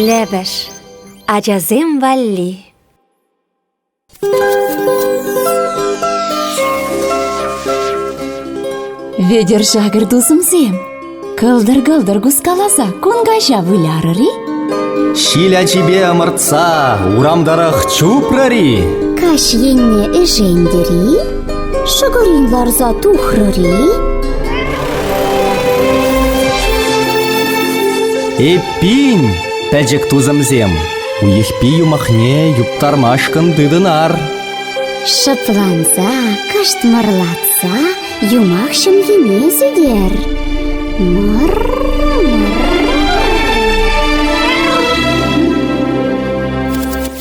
Лӗпӗш ачасем валли Вӧдер шакӑр тусӑмсем, кӑлтӑр-кӑлтӑр кускаласа кун каҫа вылярӑр-и? Ҫил ачипе ӑмӑртса урам тӑрӑх чупрӑр-и? Каҫ енне ӗшентӗр-и? Шӑкӑрин ларса тухрӑр-и? Эппин, пӗчӗк тусӑмсем, Уйӑхпи юмахне юптармашкӑн тытӑнар. Шӑпланса, кӑштмӑрлатса юмах ҫӑмхине сӳтер. Мӑр-мӑр.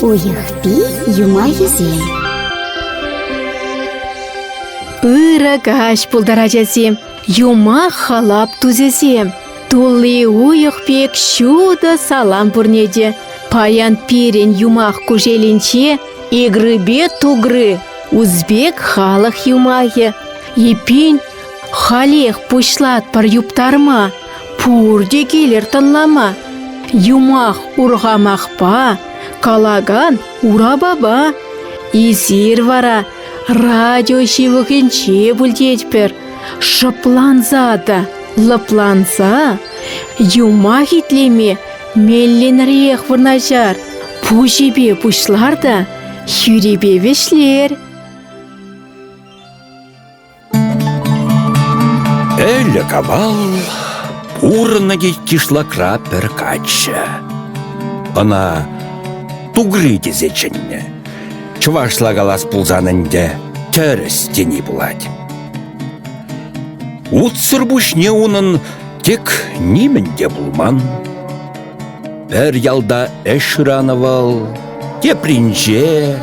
Уйӑхпи юмахӗсем. Пырӑ каҫ пултар, ачасем, юмах халап тусӗсем. Тулли уйӑх пек ҫутӑ салам пурне те. Паян пирӗн юмах кушелӗнче игрыпе тугры, узбек халӑх юмахӗ. Эппин, халех пуҫлатпӑр юптарма, пурте килӗр тӑнлама. Юмах урхамахпа, калакан урапапа. Эсир вара радио ҫывӑхӗнче пултетпӗр. Шӑпланса та лӑпланса юмах итлеме мелленрех вырнаҫар, пуҫӗпе пуҫлар та хӳрипе вӗҫлер. Ӗлӗк-авал урнӑ кишлакра пӗр каччӑ. Ӑна Тугри тесе чӗннӗ. Чӑвашла калас пулсан ӗнтӗ тӗрӗс тени пулать. Утсӑр пуҫне унӑн тек нимӗн те пулман. Пӗр ялта ӗҫ шыранӑ вӑл, тепринче.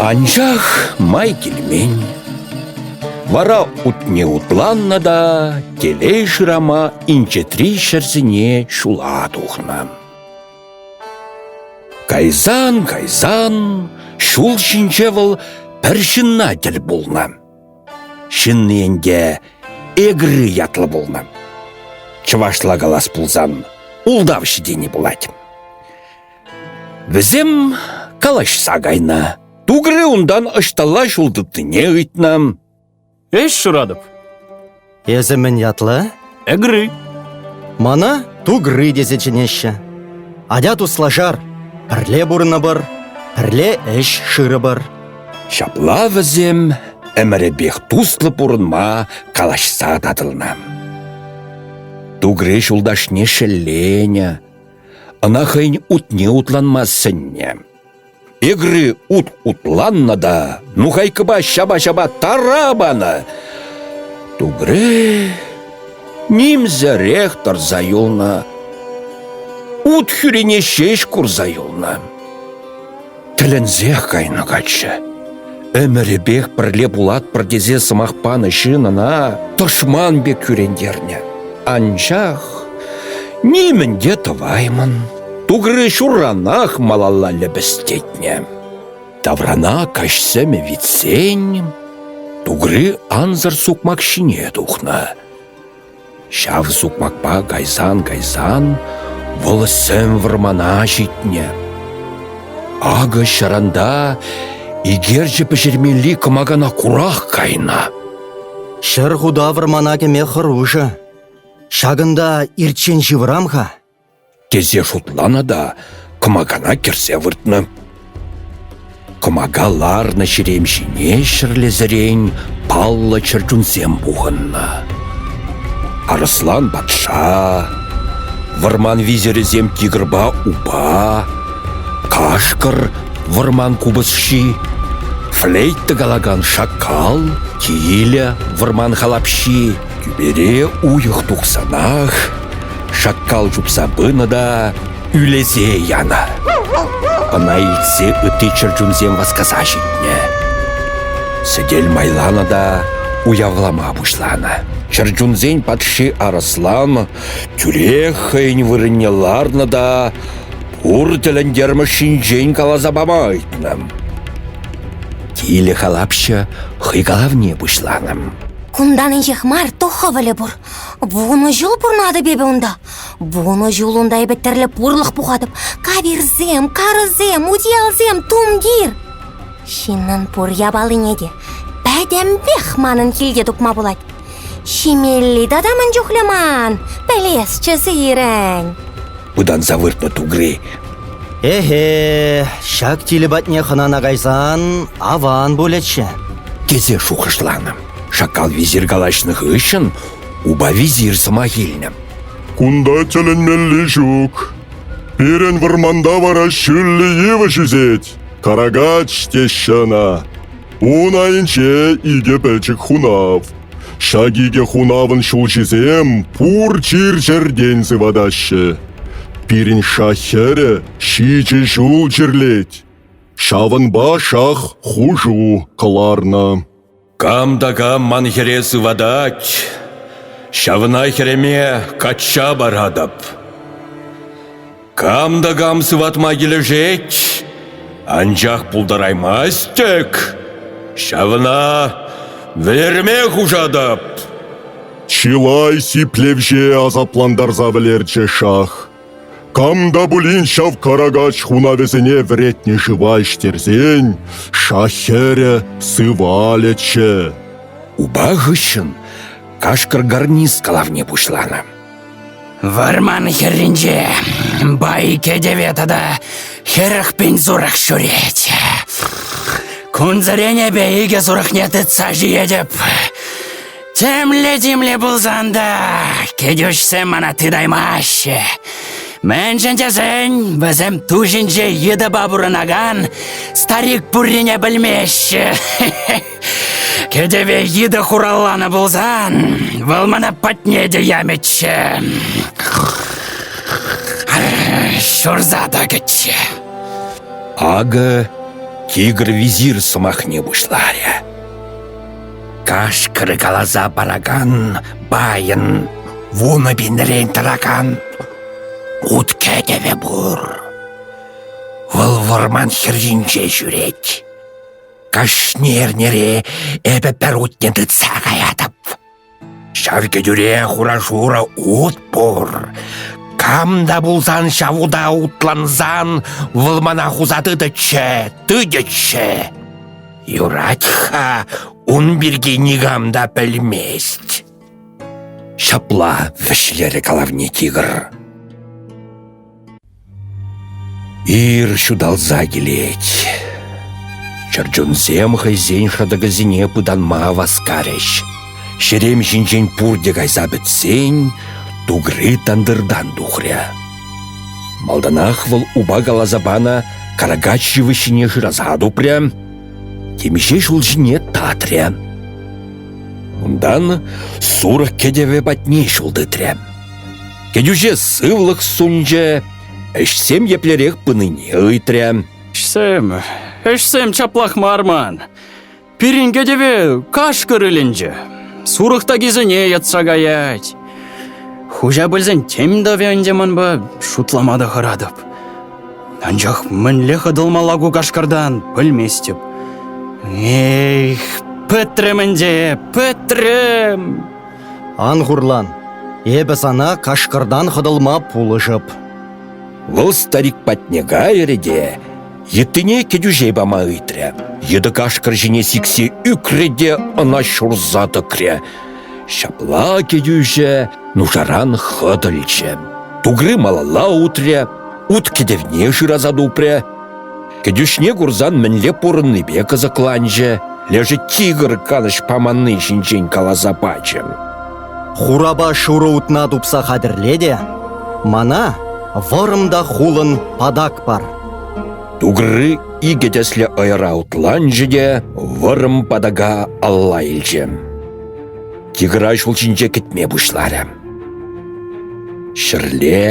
Анчах май килмен. Вара утне утланнӑ та телей шырама инҫетри ҫӗрсене ҫула тухнӑ. Кайсан-кайсан ҫул ҫинче вӑл пӗр ҫынна тӗл пулнӑ. Ҫынни ӗнтӗ Эгры ятлӑ пулнӑ. Чӑвашла калас пулсан ултавҫӑ тени пулать. Вӗсем калаҫса кайнӑ. Тугры унтан ӑҫталла ҫул тытнине ыйтнӑ. Ӗҫ шыратӑп. Эсӗ мӗн ятлӑ? Эгры. Мана тугры тесе чӗнеҫҫӗ. Атя туслашар, пӗрле пурӑнӑпӑр, пӗрле ӗҫ шырӑпӑр. Ҫапла вӗсем ӗмӗрӗпех туслӑ пурӑнма калаҫса татӑлнӑ. Тугры ҫулташне шелленӗ. Ӑна хӑйӗн утне утланма сӗннӗ. Эгри ут утланнӑ та нухайкӑпа ҫапа-ҫапа тара панӑ. Тугре нимсӗрех тӑрса юлнӑ. Ут хӳрине ҫеҫ курса юлнӑ. Тӗлӗнсех кайнӑ каччӑ. Ӗмӗрӗпех пӗрле пулатпӑр тесе сӑмах панӑ ҫын ӑна тӑшман пек кӳрентернӗ. Анчах нимӗн те тӑваймӑн. Тугры ҫурранах малалла лӗпӗстетнӗ. Таврана каҫ сӗмӗ витсен, Тугры ансӑр сукмак ҫине тухнӑ. Ҫав сукмакпа кайсан-кайсан вӑл сӗм вӑрмана ҫитнӗ. Акӑ ҫӑранта икерчӗ пӗҫермелли кӑмакана курах кайнӑ. Ҫӗр худа вӑрмана кӗме хӑрушӑ. Ҫакӑнта ирччен ҫывӑрам-ха. тесе шутланӑ та кӑмакана кӗрсе выртнӑ. Кӑмака ларнӑ ҫерем ҫине ҫӗрлесерен паллӑ чӗрчунсем пухӑннӑ. Арӑслан патша, вӑрман визирӗсем тигрпа упа, кашкӑр вӑрман купӑсҫи, флейт тӑкалакан шакал, тилӗ вӑрман халапҫи, Кӳпере уйӑх тухсанах шаккал чупса пынӑ та ӳлесе янӑ. Ӑна илтсе ытти чӗрчунсем васкаса ҫитнӗ. Сӗтел майланӑ та уявлама пуҫланӑ. Чӗрчунсен патши Арӑслан тӳрех хӑйӗн вырӑнне ларнӑ та пур тӗлӗнтермӗш ҫинчен каласа пама ыйтнӑ. Тилӗ халапҫӑ хӑй калавне пуҫланӑ. Кунтан инҫех мар то хӑвӑлӗ пур. Вунӑ ҫул пурӑнатӑп эпӗ унта. Вунӑ ҫул унта эпӗ тӗрлӗ пурлӑх пухатӑп. Кавирсем, карӑсем, утиялсем, тумтир. Ҫыннӑн пур япалине те пӗтӗмпех манӑн килте тупма пулать. Ҫимелли тата мӗн чухлӗ ман, пӗлесчӗ сирӗн. пытанса выртнӑ тугри. «Эхе, ҫак тилӗ патне хӑнана кайсан аван пулӗччӗ», тесе шухӑшланӑ. Шакал визир калаҫнӑ хыҫҫӑн упа визир сӑмах илнӗ. «Кунта тӗлӗнмелли ҫук. Пирӗн вӑрманта вара ҫӳллӗ йывӑҫ ӳсет, карагач теҫҫӗ ӑна. Ун айӗнче икӗ пӗчӗк хунав. Ҫак икӗ хунавӑн ҫулҫисем пур чир-чӗртен сыватаҫҫӗ. Пирӗн шах хӗрӗ ҫичӗ ҫул чирлет. Ҫавӑнпа шах хушу кӑларнӑ. Кам та кам ман хӗре сыватать, ҫавна хӗреме качча паратӑп. Кам та кам сыватма килӗшет, анчах пултараймасть-тӗк, ҫавна вӗлерме хушатӑп. Чылай сиплевҫе асаплантарса вӗлерчӗ шах. Кам та пулин ҫав карагач хунавӗсене вӗретнӗ шыва ӗҫтерсен, шах хӗрӗ сывалӗччӗ. Упа хыҫҫӑн кашкӑр гарниз калавне пуҫланӑ. Вӑрман хӗрринче бай кӗтӗве тата хӗрӗх пин сурӑх ҫӳрет. Кунсеренепе икӗ сурӑхне тытса ҫиетӗп. Темле-тимле пулсан та кӗтӳҫсем мана тытаймаҫҫӗ. Мӗншӗн тесен вӗсем ту ҫинче йытӑпа пурӑнакан старик пуррине пӗлмеҫҫӗ. Кӗтӗве йытӑ хуралланӑ пулсан, вӑл мана патне те ямӗччӗ. Ҫурса та кӗччӗ. Акӑ тигр визир сӑмахне пуҫларӗ. Кашкӑр каласа паракан байӑн вунӑ пинрен тӑракан ут кӗтӗвӗ пур. Вӑл вӑрман хӗрринче ҫӳрет. Кашни эрнере эпӗ пӗр утне тытса каятӑп. Ҫав кӗтӳре хура-шурӑ ут пур. Кам та пулсан ҫав ута утлансан вӑл мана хуса тытӗччӗ, тытӗччӗ. Юрать-ха, ун пирки никам та пӗлмест. Ҫапла вӗҫлерӗ калавне тигр. Ир ҫуталса килет. Чӗрчунсем хӑйсен шӑтӑкӗсене пытанма васкарӗҫ. Ҫерем ҫинчен пурте кайса пӗтсен, тугри тантӑртан тухрӗ. Малтанах вӑл упа каласа панӑ каракач йывӑҫҫине шыраса тупрӗ, темиҫе ҫул ҫине татрӗ. Унтан сурӑх кӗтӗвӗ патне ҫул тытрӗ. Кӗтӳҫе сывлӑх сунчӗ, ӗҫсем еплерех пынине ыйтрӗ. Ӗҫсем, ӗҫсем чаплах мар ман. Пирӗн кӗтӗве кашкӑр ӗленчӗ. Сурӑх такисене йӑтса каять. Хуҫа пӗлсен тем тӑвӗ ӗнтӗ манпа, шутлама та хӑратӑп. Анчах мӗнле хӑтӑлмалла ку кашкӑртан, пӗлместӗп. Эх, пӗтрӗм ӗнтӗ, пӗтрӗм! Ан хурлан, эпӗ сана кашкӑртан хӑтӑлма пулӑшӑп. Вӑл старик патне кайрӗ те йыттине кӗтӳҫе пама ыйтрӗ. Йытӑ кашкӑр ҫине сиксе ӳкрӗ те ӑна ҫурса тӑкрӗ. Ҫапла кӗтӳҫӗ нушаран хӑтӑлчӗ. Тугры малалла утрӗ, ут кӗтӗвне шыраса тупрӗ. Кӗтӳҫне курсан мӗнле пурӑннипе кӑсӑкланчӗ, лешӗ тигр канӑҫ паманни ҫинчен каласа пачӗ. «Хурапа шурӑ утна тупса хатӗрле те мана вӑрӑм та хулӑн патак пар». Тугры икӗ тӗслӗ ӑйӑра утланчӗ те вӑрӑм патака алла илчӗ. Тигра ҫул ҫинче кӗтме пуҫларӗ. Ҫӗрле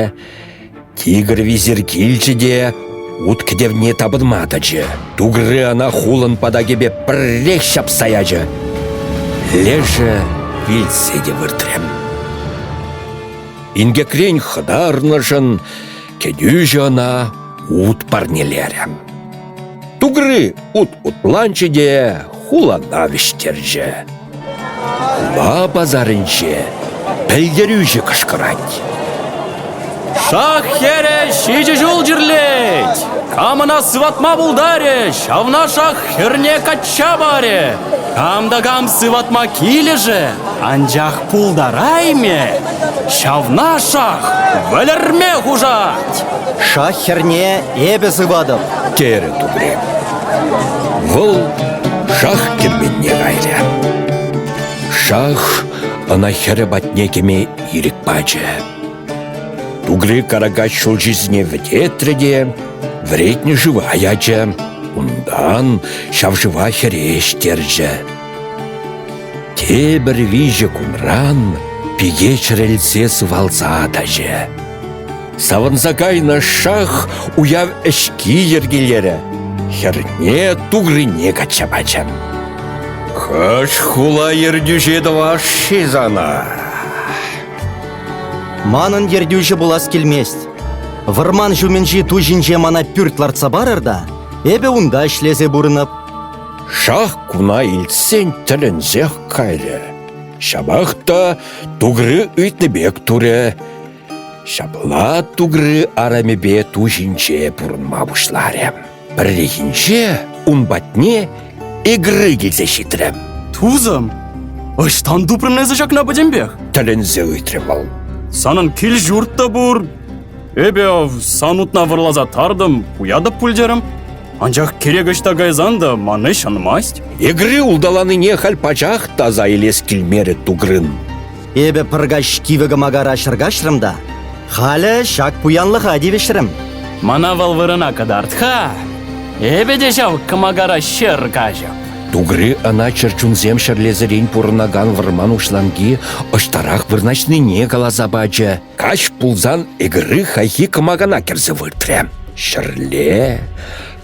Тигр висер килчӗ те ут кӗтевне тапӑнма тӑчӗ. Тугры ӑна хулӑн патакӗпе пӗррех ҫапса ячӗ. Лешӗ вилсе те выртрӗ. Инкекрен хӑтарнӑшӑн кӗтӳҫӗ ӑна ут парнелерӗ. Тугры ут утланчӗ те хулана вӗҫтерчӗ. Хула пасарӗнче пӗлтерӳҫӗ кӑшкӑрать. Шах хӗрӗ ҫичӗ ҫул чирлет. Кам ӑна сыватма пултарӗ, ҫавна шах хӗрне качча парӗ. Кам та кам сыватма килӗшӗ, анчах Пултараймӗ! Ҫавна шах вӗлерме хушать! Шах хӗрне эпӗ сыватӑп, терӗ Тумрем. Вӑл шах кӗмменне кайрӗ. Шах ӑна хӗрӗ патне кӗме ирӗк пачӗ. Тугри Каракач ҫулҫисене вӗтетрӗ те вӗретнӗ шыва ячӗ. Унтан ҫав шыва хӗре ӗҫтерчӗ. Тепӗр виҫӗ кунран пике чӗрӗлсе сывалса тӑчӗ. Савӑнса кайнӑ шах уяв ӗҫки йӗркелерӗ. Хӗрне тугрине качча пачӗ. Хӑш хула ертӳҫи тӑвас-ши сана? Манӑн ертӳҫӗ пулас килмест. Вӑрман ҫумӗнчи ту ҫинче мана пӳрт лартса парӑр та эпӗ унта ӗҫлесе пурӑнӑп. Шах куна илтсен тӗлӗнсех кайрӗ. Ҫапах та тугры ыйтнӑ пек турӗ. Ҫапла тугры арамӗпе ту ҫинче пурӑнма пуҫларӗ. Пӗррехинче ун патне Эгры килсе ҫитрӗ. Тусӑм, ӑҫтан тупрӑн эсӗ ҫакна пӗтӗмпех? тӗлӗнсе ыйтрӗ вӑл. Санӑн кил-ҫурт та пур, Эпӗ ав сан утна вӑрласа тартӑм, уятӑп пуль терӗм. Анчах кирек ӑҫта кайсан та ман ӗҫ ӑнмасть. Эгре улталанине халь пачах таса илес килмерӗ Тугрын. Эпӗ пӑркаҫ кивӗ кӑмакара ҫӗркаҫрӑм та халӗ ҫак пуянлӑха тивӗҫрӗм. Мана вӑл вырӑна кӑтарт-ха. Эпӗ те ҫав кӑмакара ҫӗр каҫӑп. Тугри ӑна чӗрчунсем ҫӗрлесерен пурӑнакан вӑрман уҫланки ӑҫтарах вырнаҫнине каласа пачӗ. Каҫ пулсан ӗгӗрӗ хайхи кӑмакана кӗрсе выртрӗ. Ҫӗрле,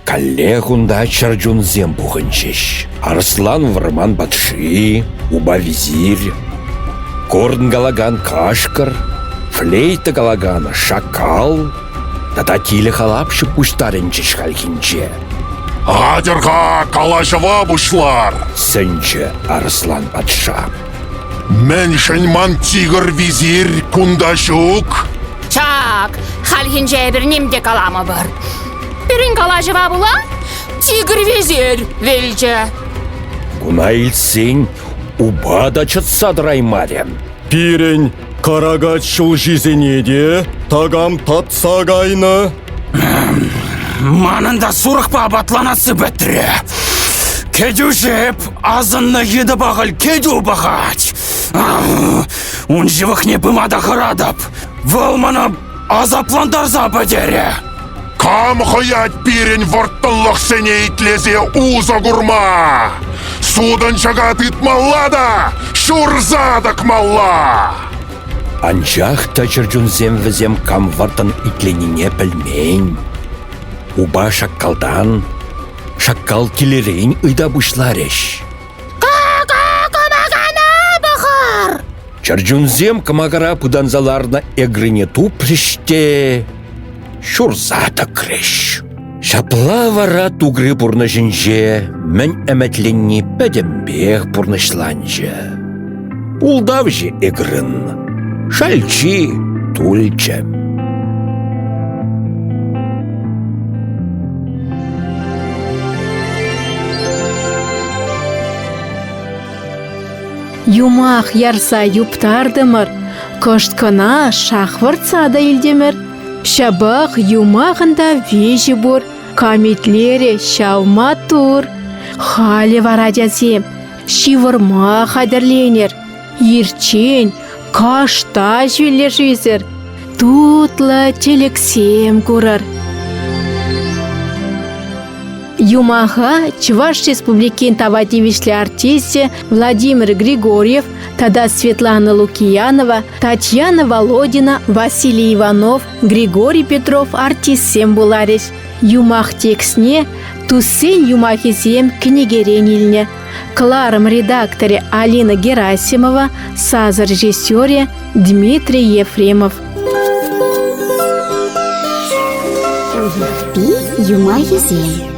каллех унта чӗрчунсем пухӑнчӗҫ. Арслан вӑрман патши, уба визирь, корн калакан кашкӑр, флейта калакан шакал тата тилӗ халапҫӑ пуҫтарӑнчӗҫ хальхинче. «Атьӑр-ха, калаҫӑва пуҫлар!» сӗнчӗ Арслан патша. Мӗншӗн ман тигр визирь кунта ҫук? Чак, хальхинче эпир ним те каламӑпӑр. Пирӗн калаҫӑва пула тигр визирь вилчӗ. Куна илтсен упа та чӑтса тӑраймарӗ. Пирӗн Каракач ҫулҫисене те такам татса кайнӑ. Манӑн та сурӑхпа апатланассы пӗтрӗ. Кӗтӳҫӗп, асӑннӑ йытӑпа халь кӗтӳ пахать. Ун ҫывӑхне пыма та хӑратӑп. Вӑл мана асаплантарса пӗтерӗ. Кам хӑять пирӗн вӑрттӑнлӑхсене итлесе усӑ курма? Сутӑнчӑка тытмалла та ҫурса тӑкмалла! Анчах та чӗрчунсем вӗсем кам вӑрттӑн итленине пӗлмен. Упа шаккалтан, шаккал килӗрен ыйта пуҫларӗҫ. кӑмакана пӑхар! Чӗрчунсем кӑмакара пытанса ларнӑ эгрине тупрӗҫ те ҫурса тӑкрӗҫ. Ҫапла вара тугри пурнӑҫӗнче мӗн ӗмӗтленни пӗтӗмпех пурнӑҫланчӗ. Ултавҫӑ ӗгрӗн шальчи тулчӗ. Юмах ярса юптартӑмӑр, кӑшт кӑна шахвӑртса та илтӗмӗр. Ҫапах юмахӑн та виҫи пур, камитлерӗ ҫав маттур. Халӗ вара, тятсем, Ҫывӑрма хатӗрленер. Ирччен кашта ҫӳллӗшӳсӗр тутлӑ тӗлӗксем курӑр. Юмаха Чӑваш Республикин тава тивӗҫлӗ артисчӗ Владимир Григорьев тата Светлана Лукиянова, Татьяна Володина, Василий Иванов, Григорий Петров артистсем пуларӗҫ. Юмах текстне туссен юмахӗсем кӗнекерен илнӗ. Кӑларӑм редакторӗ Алина Герасимова, саз режиссерӗ Дмитрий Ефремов. Пи юмахӗсем